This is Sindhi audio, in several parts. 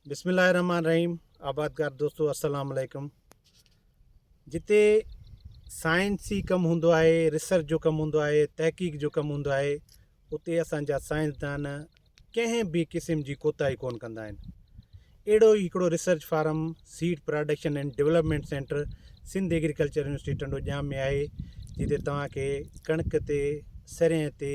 بسم الله الرحمن الرحيم آبادگار دوستو السلام عليڪم جتي سائنسي ڪم هوندو آهي ريسرچ جو ڪم هوندو آهي تحقيق جو ڪم هوندو آهي اتي اسانجا سائنسدان ڪنهن به قسم جي ڪوتاهي ڪون ڪندا آهن اهڙو ئي هڪڙو research farm seed production and development centre Sindh agriculture university Tando Jam ۾ آهي جتي توهان کي ڪڻڪ تي سرين تي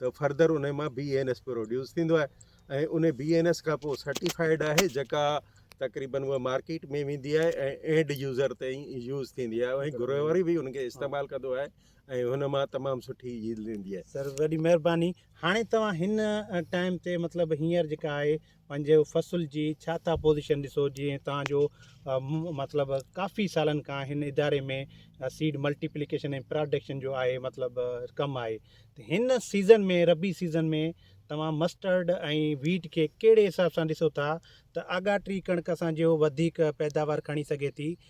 ته فرڌر انهي مان بي اين ايس پروڊيوس ٿيندو آهي ۽ انهي بي اين ايس کان پوء سرٽيفائيڊ آهي جيڪا تقريبن اها مارڪيٽ ۾ ويندي آهي ۽ اينڊ يوزر تائين يوز ٿيندي آهي ۽ گهرو واري به ان کي استعمال ڪندو آهي ۽ هن مان تمام سٺي ييلڊ ايندي آهي سر وڏي مهرباني هاڻي توهان هن ٽائيم تي مطلب هينئر جيڪا آهي پنهنجي فصل جي ڇا ٿا پوزيشن ڏسو جيئن توهان جو مطلب ڪافي سالن کان هن اداري ۾ سيڊ ملٽي پليڪيشن ۽ پراڊڪشن جو آهي مطلب ڪم آهي ته هن سيزن ۾ ربي سيزن ۾ توهان مسٽرڊ ۽ ويٽ کي ڪهڙي حساب سان ڏسو ٿا ته آگاٽري ڪڻڪ اسان جو وڌيڪ پيداوار کڻي سگهي ٿي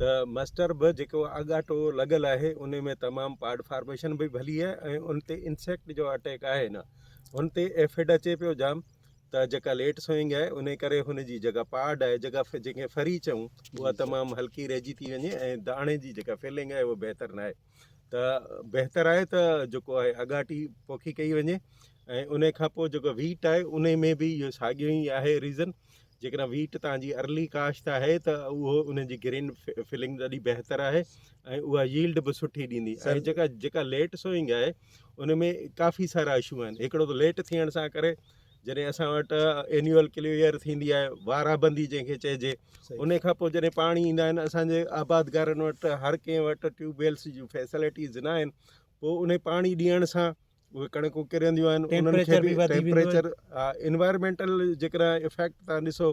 ته مسٽر به جيڪو اڳاٽو لڳل آهي ان ۾ تمام پاڊ فارميشن به ڀلي آهي ۽ ان تي انسيڪٽ جو اٽيڪ آهي نه ان تي ايفڊ اچي پيو جام ته جيڪا ليٽ سوئنگ آهي ان ڪري هن جي جيڪا پاڊ آهي جيڪا جنهن کي فري چئون اها تمام هلڪي رهجي ٿي وڃي ۽ داڻي جي جيڪا فيلنگ آهي اها بهتر نه آهي ته بهتر آهي ته جيڪو آهي اڳاٽي پوکي ڪئي وڃي ۽ ان کان پوء جيڪو ويٽ آهي ان ۾ به اهو ساڳيو ئي آهي ريزن جيڪڏهن ويٽ تان جي ارلي ڪاشت آهي ته اهو ان جي گرين فلنگ ڏاڍي بهتر آهي ۽ اها ييلڊ به سٺي ڏيندي ۽ جيڪا جيڪا ليٽ سوئنگ آهي ان ۾ ڪافي سارا اشو آهن هڪڙو ته ليٽ ٿيڻ سان ڪري جڏهن اسان وٽ اينيول ڪليئر ٿيندي آهي وارا بندي جنهن کي چئجي ان کان پوء جڏهن پاڻي ايندا آهن اسانجي آبادگارن وٽ هر ڪنهن وٽ ٽيوب ويلس جون فيسلٽيز نا آهن پوء ان پاڻي ڏيڻ سان اهي ڪڻڪون ڪرنديون آهن انهن کي ٽيمپريچر انوائرمينٽل جيڪڏهن افيڪٽ تان ڏسو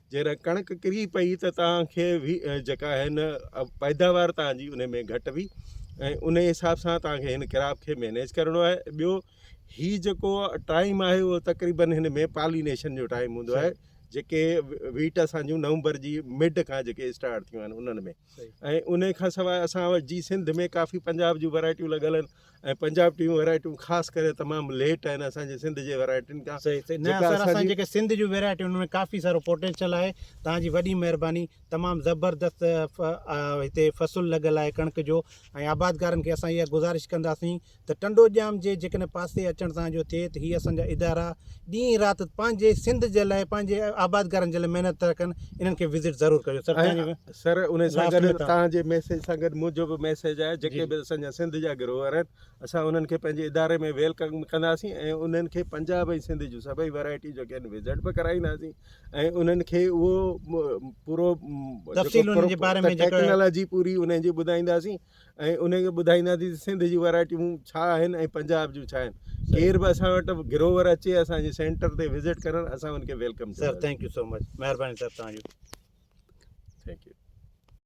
جيڪڏهن ڪڻڪ ڪري پئي ته توهان کي جيڪا آهي نه پيداوار توهان جي ان ۾ گهٽ وي ۽ ان جي حساب سان توهان کي هن ڪراپ کي مينيج ڪرڻو آهي ٻيو هي جيڪو ٽائيم آهي اهو تقريبن هن ۾ پالينيشن جو ٽائيم هوندو آهي جيڪي ويٽ اسان جون نومبر جي مڊ کان جيڪي اسٽارٽ ٿيون آهن انهن ۾ ۽ ان کان سواء اسان وٽ جي سنڌ ۾ ڪافي پنجاب جون ورايٽيون لڳل آهن ۽ پنجاب ٽيون ويرائٽيون خاص ڪري تمام ليٽ آهن اسان جي سنڌ جي ويرائٽين کان صحيح صحيح نه سر اسان جيڪي سنڌ جون ويرائٽيون ان ۾ ڪافي سارو پوٽينشل آهي تان جي وڏي مهرباني تمام زبردست هتي فصل لڳل آهي ڪڻڪ جو ۽ آبادگارن کي اسان اها گذارش ڪنداسين ته ٽنڊو ڄام جي جيڪڏهن پاسي اچڻ تان جو ٿئي ته هي اسان جا ادارا ڏينهن رات پنهنجي سنڌ جي لاء پنهنجي آبادگارن جي لاء محنت ٿا ڪن انهن کي وزٽ ضرور ڪجو سر سر انهي سان گڏ توهان جي ميسيج سان گڏ منهنجو به ميسيج آهي جيڪي به اسان جا سنڌ جا گروهر آهن اسان انهن کي پنهنجي اداري ۾ ويلڪم ڪنداسين ۽ انهن کي پنجاب ۽ سنڌ جون سڀئي ورايٽيون جيڪي آهن وزٽ به ڪرائينداسين ۽ انهن کي اهو پورو تفصيل انهن جي باري ۾ ٽيڪنالاجي پوري انهن جي ٻڌائينداسين ۽ انهن کي ٻڌائينداسين ته سنڌ جون ويرائٽيون ڇا آهن ۽ پنجاب جون ڇا آهن ڪير به اسان وٽ گروور اچي اسان جي سينٽر تي وزٽ ڪرڻ اسان ان کي welcome sir thank you so much مهرباني سر تنهنجي ٿينڪ يو